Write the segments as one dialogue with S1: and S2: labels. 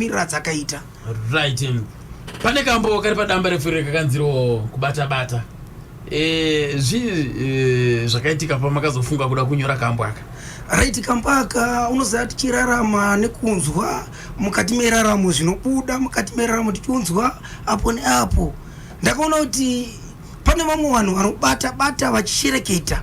S1: mirira dzakaita right um,
S2: pane kambo kari padamba refure kakanziro kubata bata eh, zvi eh, zvakaitika pamakazofunga kuda kunyora kambo aka right kambaka
S1: unoziva tichirarama nekunzwa mukati meraramo zvinobuda mukati meraramo tichiunzwa apo neapo ndakaona kuti pane vamwe vanhu vanobata bata vachishereketa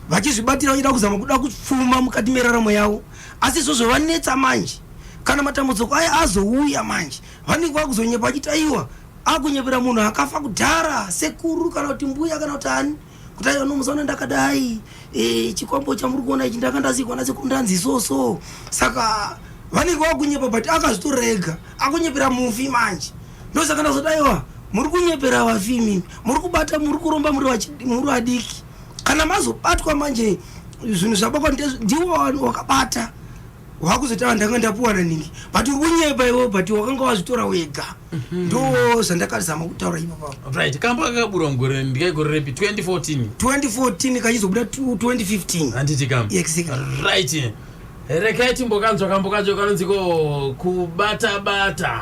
S1: vachizvibatira vachida kuzama kuda kupfuma mukati meraramo yavo asi izvozvo vanetsa manje kana matambudziko aya azouya manje vanenge vakuzonyepa vachiti aiwa akunyepera munhu akafa kudhara sekuru kana kuti mbuya kana kuti ani kuti aiwa nomuzaona ndakadai e, chikwambo chamuri kuona ichi ndanga ndasikwa nasekuru ndanzi isoso saka vanenge vakunyepa but akazvitorega akunyepera mufi manje ndosaka ndazoti aiwa muri kunyepera vafi imimi muri kubata muri kuromba muri vadiki kana mazobatwa manje zvinhu zvabakwa ndiwo wakabata wakuzotaura ndanga ndapuwa naningi but uri kunyepa iwe but wakanga wazvitora wega mhm. ndo zvandakazama kutaura ipapo right kambo kakabura
S2: mugore ndikaigore repi 2014 2014 kachizobuda 2015
S1: handiti kam exactly right
S2: rekai timbokanzwa kambo kacho kanonziko kubata bata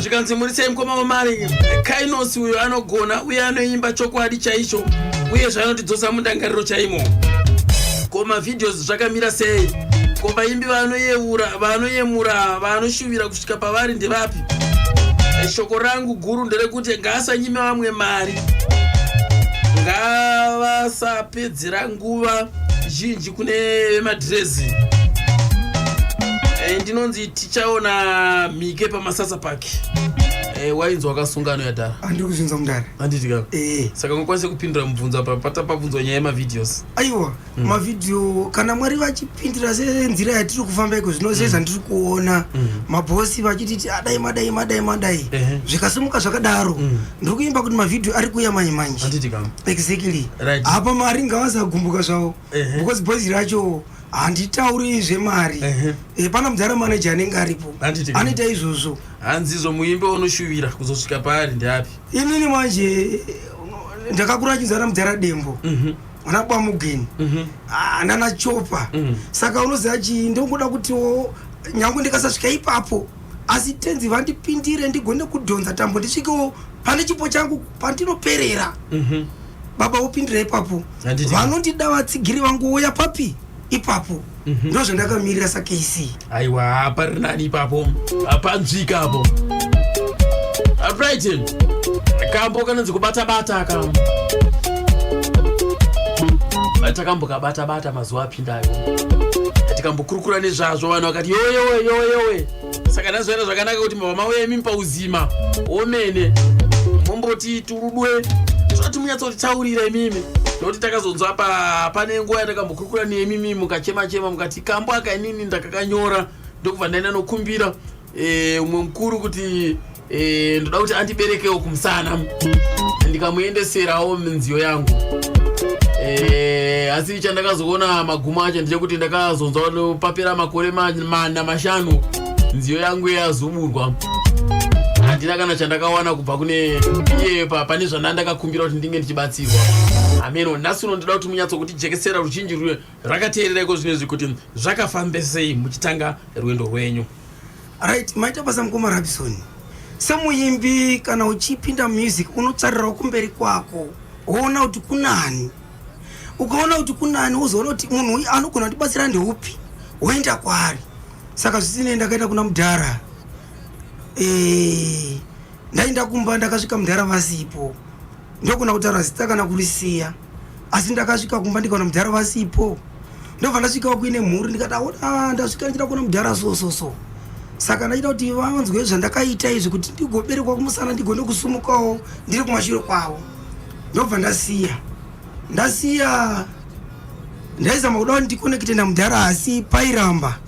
S2: zvikanzi murisei mukoma wamari kainosi uyo anogona uye anoimba chokwadi chaicho uye zvanotidzosa mundangariro chaimo ko mavideos zvakamira sei ko vaimbi vanoyeura vanoyemura vanoshuvira kusvika pavari ndevapi shoko rangu guru nderekuti ngaasanyime vamwe mari ngavasapedzera nguva zhinji kune vemadhirezi eh, ndinonzi tichaona mike pamasasa park eh, wainzi wakasunga anoyadhara andiri kuzvinza mudhara
S1: anditi ka eh.
S2: saka ungakwanise kupindura mubvunzo apa pata pabvunzwa nyaya yemavideos aiwa mm.
S1: mavidio kana mwari vachipindira senzira yatiri kufamba iko zvino seza mm. ndiri kuona mm. mabhosi vachititi adai madai madai madai zvikasimuka zvakadaro ndiri kuimba kuti mavhidhiyo ari kuuya manje manje exactly apa mari
S2: ngavasagumbuka
S1: zvavo because boys racho handitauri zvemari eh, pana mudhara manaje anenge aripo anoita izvozvo hanzi izvo muimbe
S2: unoshuvira kuzosvika paari ndeapi inini manje
S1: ndakakura chinzana mudhara dembo mhm. ana bamugeni mhm. ah, nana chopa mhm. saka unoziva chii ndongoda kutiwo nyange ndikasasvika ipapo mm -hmm. asi tenzi vandipindire ndigone kudhonza tambo ndisvikewo pane chipo changu pandinoperera mhm. baba vopindira ipapo vanondida vatsigiri vangu uya papi ipapo mhm. ndo zvandakamirira sakc aiwa hapari
S2: nani ipapo hapanzvika apo apritin kambo kanonzi kubata bata ka takambo kabata bata mazuva api tikambokurukura nezvazvo vanhu vakati yoyowe yoyowe saka ndazoenda zvakanaka kuti mava mauya imi pauzima omene momboti turudwe zvoti munyatsotitaurira imimi nokuti takazonzwa pa pane nguva yatakambokurukura nemi mimi mukachema chema mukati kambo akainini ndakakanyora ndokubva ndaenda nokumbira Eh, umwe mukuru kuti eh, ndoda kuti andiberekewo kumusana ndikamuendeserawo minziyo yangu eh, asi chandakazoona magumo acho ndechekuti ndakazonzwa papera makore mana mashanu nziyo yangu yazuburwa handina kana chandakawana kubva kune iye pane zvandandakakumbira kuti ndinge ndichibatsirwa ameno nhasi uno ndoda kuti munyatso kuti jekesera ruchinji rakateerera iko zvino izvi kuti zvakafambesei muchitanga rwendo rwenyu right
S1: maita basa mukoma rabisoni semuimbi kana uchipinda music unotsarirawo kumberi kwako woona kuti kunani ukaona kuti kunani wozoona kuti munhu uyu anogona kutibatsira ndeupi woenda kwaari saka zvisinei ndakaenda kuna mudhara e, ndaenda kumba ndakasvika mudhara vasipo ndokuna kutaura zita kana kurisiya asi ndakasvika kumba ndikaona mudhara vasipo ndobva ndasvikawo kuine mhuri ndikati aona ah, ndasvika ndichida kuona mudhara so so so saka ndachida kuti vanzwe zvandakaita izvi kuti ndigoberekwa kumusana ndigone kusumukawo ndiri kumashure kwavo ndobva ndasiya ndasiya ndaizama kuda kuti ndikonekite namudhara asi pairamba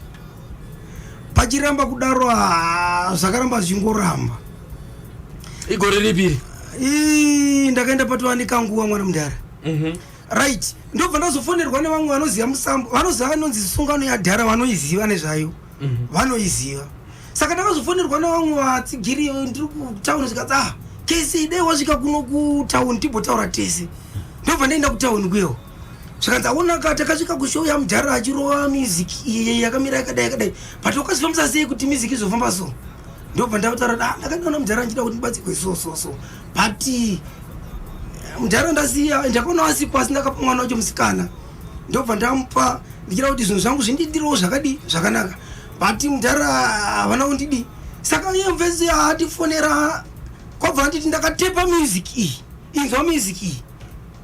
S1: pachiramba kudaro ah, zvakaramba zvichingoramba
S2: igore ripi iri Ii,
S1: ndakaenda patova nekanguva mwana mudhara Mhm. right ndobva ndazofonerwa nevamwe vanoziva musambo vanoziva vanonzi sungano yadhara vanoiziva nezvayo Mhm. vanoiziva saka ndakazofonerwa nevamwe vatsigiri ndiri kutauni zvikanzi ah kesi dai wasvika kuno kutauni timbotaura tese ndobva ndaenda kutauni kuyewo zvikanzi aonaka takasvika kushow yamudhara achirova music iye yakamira yakadai yakadai but wakazifambisa sei kuti music izofamba so ndobva ndakutaura da ah, ndakandiona mudhara ndichida kuti ndibatsirwe so so so but eh, mudhara ndasiya ndakaona asipo asi ndakapa mwana wacho musikana ndobva ndamupa ndichida kuti zvinhu zvangu zvindiitirawo zvakadii zvakanaka but mudhara havana kundidii saka iye mvezi yaatifonera kwabva anditi ndakatepa music iyi inzwa music iyi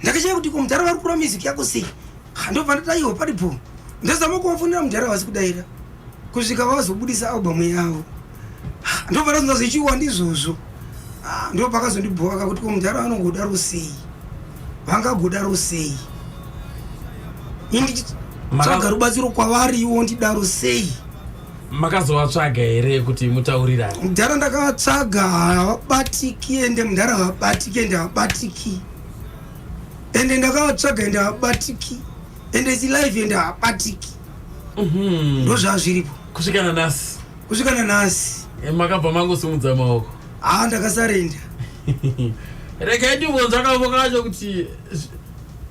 S1: ndakashaya kuti ko mudhara vari kura music yako sei ndobva ndadaiwa paripo ndazama kuvafonera mudhara vasi kudaira kusvika vazobudisa albamu yavo ndobva ndazonza zvichiwa ndizvozvo ah, ndo pakazondibhowaka kuti ko mudhara vanongodaro sei vangagodaro sei inditsvaga rubatsiro kwavari iwo ndidaro sei makazovatsvaga
S2: here kuti mutaurirane mudhara ndakavatsvaga
S1: havabatiki ende mudhara havabatiki ende havabatiki ende ndakavatsvaga ende havabatiki ende its live ende havabatiki mhm. ndozvazviripo kusvika nanasi kusvika nanasi eh, makabva mangosumudza
S2: maoko haa ah, ndakasarenda regai ndibvunza kavo kacho kuti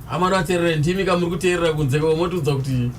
S2: amari vateerera ndimi kamuri kuteerera kunze kavo motiudza kuti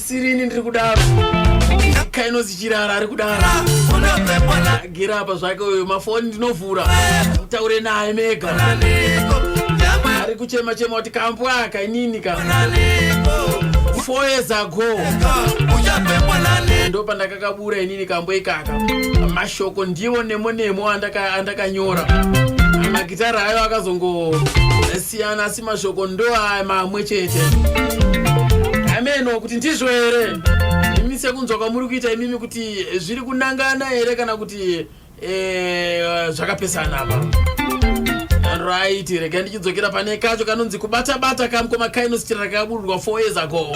S2: sirini ndiri kudaro kainozi chirara ari kudaro gira apa zvake uyo mafoni ndinovhura mutaure naye mega ari kuchema chema kuti kambo aka inini ka four years ago ndo pandakakabura inini kambo ikaka mashoko ndiwo nemo nemo andakanyora magitara ayo akazongo siyana asi mashoko ndoaya mamwe chete hameno kuti ndizvo here imi sekunzwa kwamuri kuita imimi kuti zviri kunangana here kana kuti eh, zvakapesana apa right rega ndichidzokera pane kacho kanonzi kubata bata kamkoma kainositirira kakabururwa 4 years ago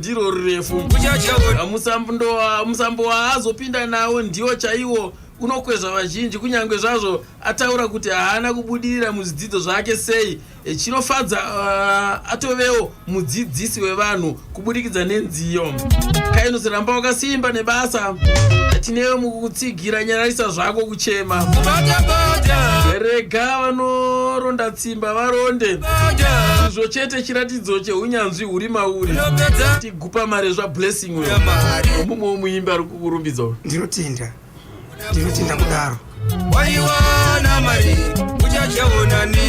S2: ndiro rurefu musambo waazopinda nawo ndiwo chaiwo unokwezva vazhinji kunyange zvazvo ataura kuti haana kubudirira muzvidzidzo zvake sei eh, chinofadza uh, atovewo mudzidzisi wevanhu kuburikidza nenziyo kainosiramba wakasimba nebasa tinewe mukutsigira nyararisa zvako kuchema rega vanoronda Simba varonde izvo chete chiratidzo cheunyanzvi huri mauri tigupa mari zvablessing uyo nomumwewo muimbi ari kukurumbidza uyo ndinotenda
S1: ndinotenda kudaro
S3: waiwana mari uchachaonani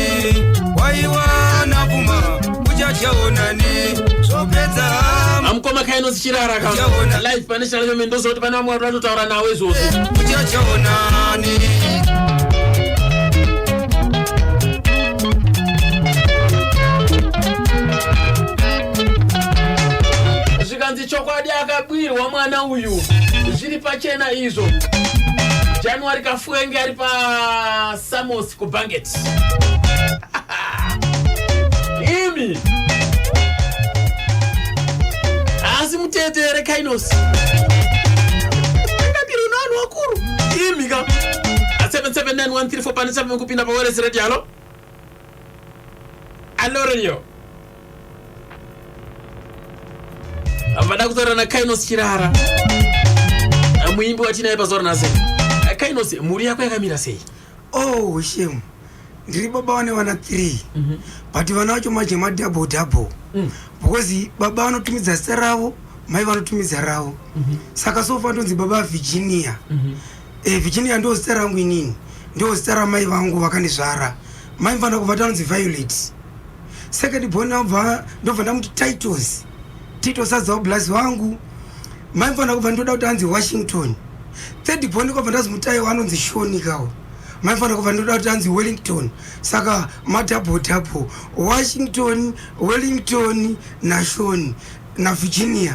S3: waiwana puma uchachaonani zvopedza hama amukoma
S2: kaino zichirara ka live pane shalomeme ndoziva kuti pane vamwe vari vatotaura nawo izvozvo uchachaonani zvikanzi chokwadi akabirwa mwana uyu zviri pachena izvo january kafuenge ari pasamos kubanget imi asi mutete here kainos angabiri unowanhu wakuru imi ka 7791 for pane chave kupinda paweresi radio halo alo radio vada kutaura nakainos chirara muimbi watinaye pazuva ranhasi kainos mhuri yako yakamira sei oh shem
S1: ndiri baba vane vana three mhm. but vana vacho manje madouble double mm. because baba vanotumidza zita ravo mai vanotumidza ravo mhm. saka sofa ndonzi baba virginia mhm. Eh, Virginia ndoo zita rangu inini, ndoo zita ramai vangu vakandizvara. Mai mfana kubva tanonzi Violet. Second born ndobva ndobva ndamuti Titus. Titus azawo blaz wangu. Mai mfana kubva ndoda kuti anzi Washington. Third born kwabva ndazi mutai wanonzi Shoni kawo. Mai mfana kubva ndoda kuti anzi Wellington. Saka ma double double Washington, Wellington na Shoni na Virginia.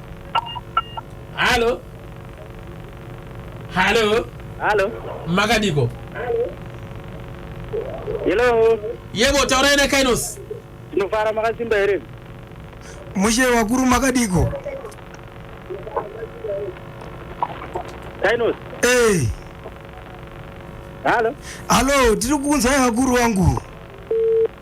S2: halo halo halo
S4: makadiko hello yebo taurai
S2: nakainos tinofara
S4: makasimba here mushe
S1: wakuru makadiko
S4: kainos hey. halo halo tiri
S1: kukunzwai vakuru wangu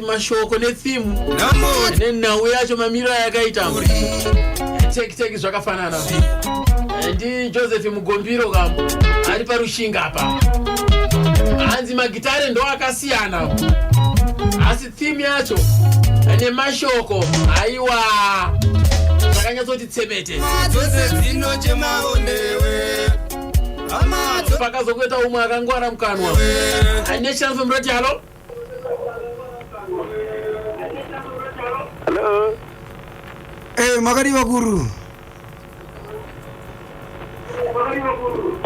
S2: mashoko nefimu nenhau yacho mamiriro ayakaita tekiteki zvakafanana eh, ndi joseph mugombiro kam ari parushinga apa hanzi magitare ndo akasiyana asi thimu yacho eh, nemashoko haiwa zvakanyatsoti tsebete pakazokuita umwe akangwara mukanwa eh, nechance murati halo
S4: Hello. Eh,
S1: makadii vakuru?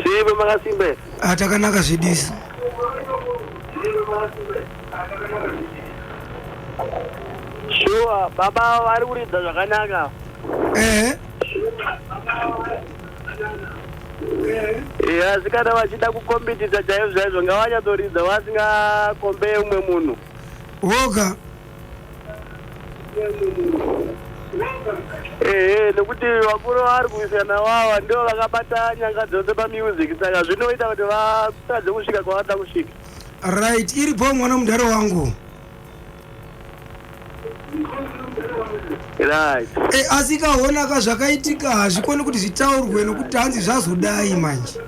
S4: Simba makasimba. Ah, takanaka zvidisi.
S1: Shuwa
S4: baba vari kuridza zvakanaka. Eh. Eya zvikada vachida kukombitisa chaizvo chaizvo ngavanyatsoridza vasingakombeye umwe munhu. Voga. Ehe nekuti vakuru vari kuwisana wawa ndivo vakabata nyanga dzose pamusic saka zvinoita kuti vatadze kusvika kwavanoda kusvika. Right iri
S1: bho mwana mudhara wangu.
S4: Right. e, asi ikaona
S1: ka zvakaitika hazvikoni kuti zvitaurwe nokuti hanzi zvazodai manje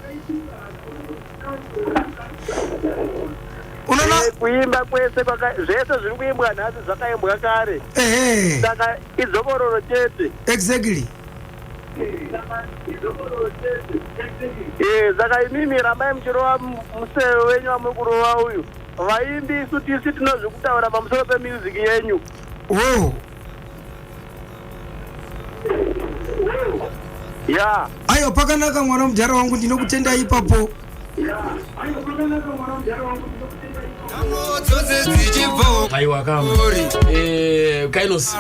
S1: unoona Eh, Kuimba kwese
S4: kwaka- zvese zviri kuimbwa nhasi zvakaimbwa kare. ehe Saka idzokororo chete. exactly
S1: Eh,
S4: saka imimi rambai muchirova mu- museve wenyu wamuri kurova uyu. Vaimbi isu tisi tinozvikutaura pamusoro pemusic yenyu. Oh. Yeah. Ayo pakanaka
S1: mwana mudhara wangu ndinokutenda ipapo.
S2: Aiwa kama. Eh, Kainos.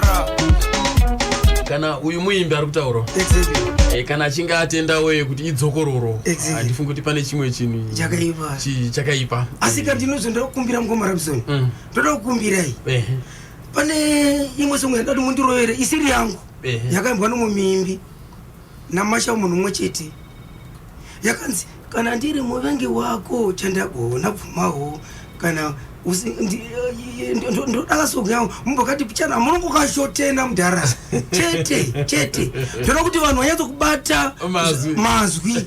S2: Kana uyu muimbi ari kutaura. Exactly. Eh, kana
S1: achinge atenda
S2: weye kuti idzokororo. Exactly. Andifungi kuti pane chimwe chinhu. Chakaipa. Chi- chakaipa asi ka ndinozvo
S1: ndoda kukumbira mukoma rabson Mm. ndoda kukumbirai Ehe, pane imwe songo yandati mundirovere isiri yangu Ehe. yakaimbwa nomwe muimbi namasha munhu umwe chete yakanzi kana ndiri muvengi wako chandagona bvumawo kana usi- ndi- eh, ndo- ndo- ndodaka songo yangu mumbokati pichana munongokashotena mudhara chete chete ndoda kuti vanhu vanyatsokubata Mazwi. mazwi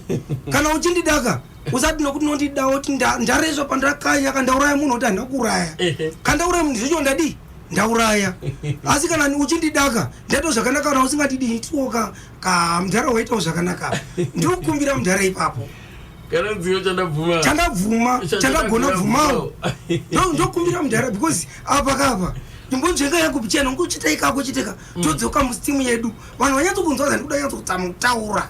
S1: kana uchindidaka usati nokuti nondida oti ndarezva pandakanya kandauraya munhu oti handina kuuraya kandauraya munhu zvecho ndadii ndauraya asi kana uchindidaka ndaitawo zvakanaka kana usingadidii tioka ka mudhara waitawo zvakanaka ndiri kukumbira mudhara ipapo
S2: chandabvuma chandagona
S1: bvumawo ndokumbira mudhara because apa kapa imbonzvenga yangu pichena ungu chitaikako chiteka mm. todzoka musitimu yedu vanhu vanyatsokunzwa zandikuda nyatsokutamutaura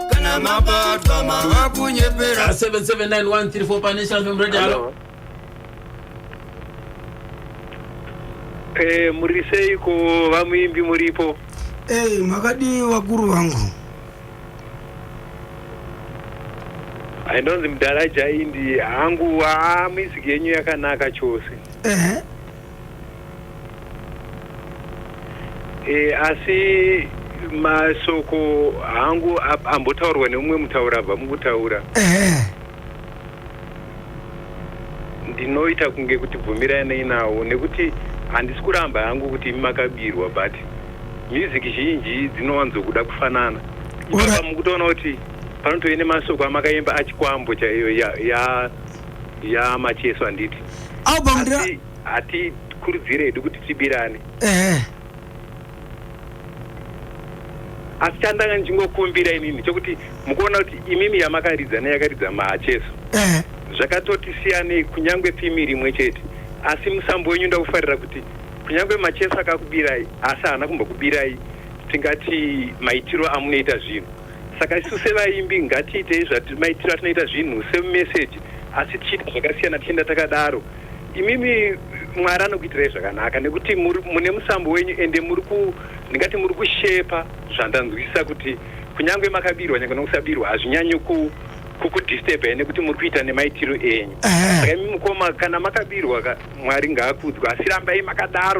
S3: kana mabatwa mava kunyepera 77913
S2: panational
S4: fm radio halo Eh, muri seiko vamuimbi muripo Hey, makadii
S1: vakuru vangu
S4: ainonzi mudhara jaindi hangu haa music yenyu yakanaka chose ehe E, asi masoko hangu ambotaurwa neumwe mutaura abva mukutaura eh. ndinoita kunge kuti bvumiranei nawo nekuti handisi kuramba hangu kuti imi makabirwa but music zhinji dzinowanzokuda kufanana ipapa mukutoona kuti panotove nemasoko amakaimba achikwambo chaiyo ya, ya ya macheso handiti album ndira Hati- hatikurudzire hedu kuti tibirane ehe asi chandanga ndichingokumbira inini chokuti mukuona kuti imimi yamakaridza neyakaridza macheso ehe zvakatoti siyanei kunyange thimi rimwe chete asi musambo wenyu ndakufarira kuti kunyange macheso akakubirai asi haana kumbokubirai tingati maitiro amunoita zvinhu Saka isu sevaimbi ngatiitei zvatimaitira tinoita zvinhu semumeseji asi tichiita zvakasiyana tichienda takadaro. Imimi Mwari anokuitirai zvakanaka nekuti mune musambo wenyu ende muri ku ndingati muri kushepa zvandanzwisisa kuti kunyange makabirwa nyange nokusabirwa hazvinyanyi ku kukudisturba ene kuti muri kuita nemaitiro enyu. Saka imi mukoma kana makabirwa Mwari ngaakudzwa asi rambai makadaro.